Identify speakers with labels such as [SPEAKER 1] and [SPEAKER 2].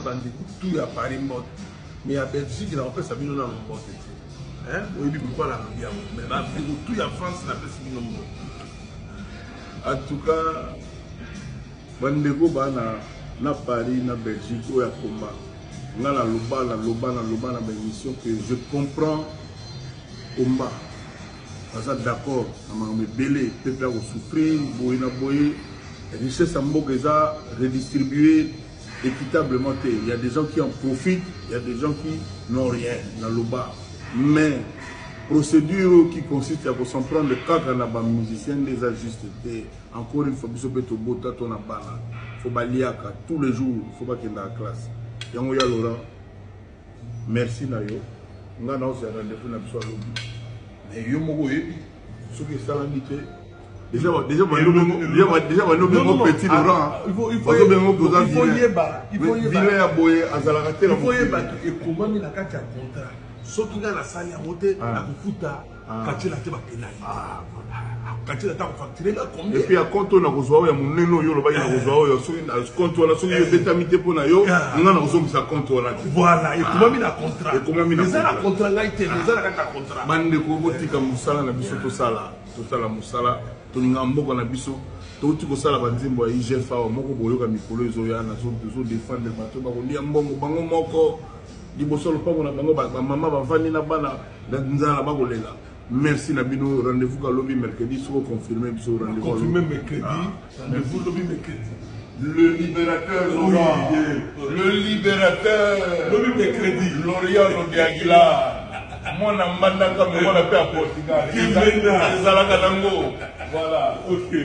[SPEAKER 1] bandeko tu ya paris mbote me ya belgique na kopesa bino nano mbote te oyebi pourkoi nalobi yango me bandeko tu ya france napesi bino mbote en tout cas bandeko bana na paris na belgique oyo akoma nga naloba naloba naloba na baémission que je comprends combat baza d'accord na makambo ebele pepe akosouffrir boye na boye richesse ya mboka eza redistribue equitablement te, il ya des gens qui en profitent, il ya des gens qui n'ont rien na loba mais procédure oyo qui consiste ya ko s'en prendre kaka na ba musiciens nde eza juste te encore une fois biso mpe tobota to na bana fo baliaka tous les jours fo bakendaka classe yango ya laurent Merci na yo. Nga na ozela rendez-vous na biso alobi. Mais yo moko oyebi soki esalami te Déjà, déjà, déjà, balobi ngo petit laurent bazobenga ngo boza vilain ya boye azalaka te il faut yeba ekomami na kati ya contrat soki nga nasali yango te nakofuta Ah. katila te bapenali ah, katila ta facture nga combien puis ya compte oyo nakozwa oyo ya monene oyo olobaki eh. nakozwa oyo soki compte wana soki eh. ebetami te mpo na yo ah. nga nakozongisa compte wana te voilà ekomami na contrat ekomami na eza na contrat ngai te eza na kati na contrat bandeko botika mosala na biso tosala tosala mosala tolinga mboka na biso touti kosala banzembo ya igf awa moko boyoka mikolo ezoya nazodefendre bato bakolia mbongo bango moko liboso lopango na bango bamama bavandi na bana Date nzala ba kolela. Merci na bino rendez-vous ka lobi mercredi soko confirmer biso rendez-vous. Confirmer mercredi. Ah. Rendez-vous lobi mercredi. Le libérateur oui. Le libérateur. Lobi mercredi. L'Orient Lodiaguila. mwana mbandaka me mwana mpe ya portugal ezalaka nango voilà okay.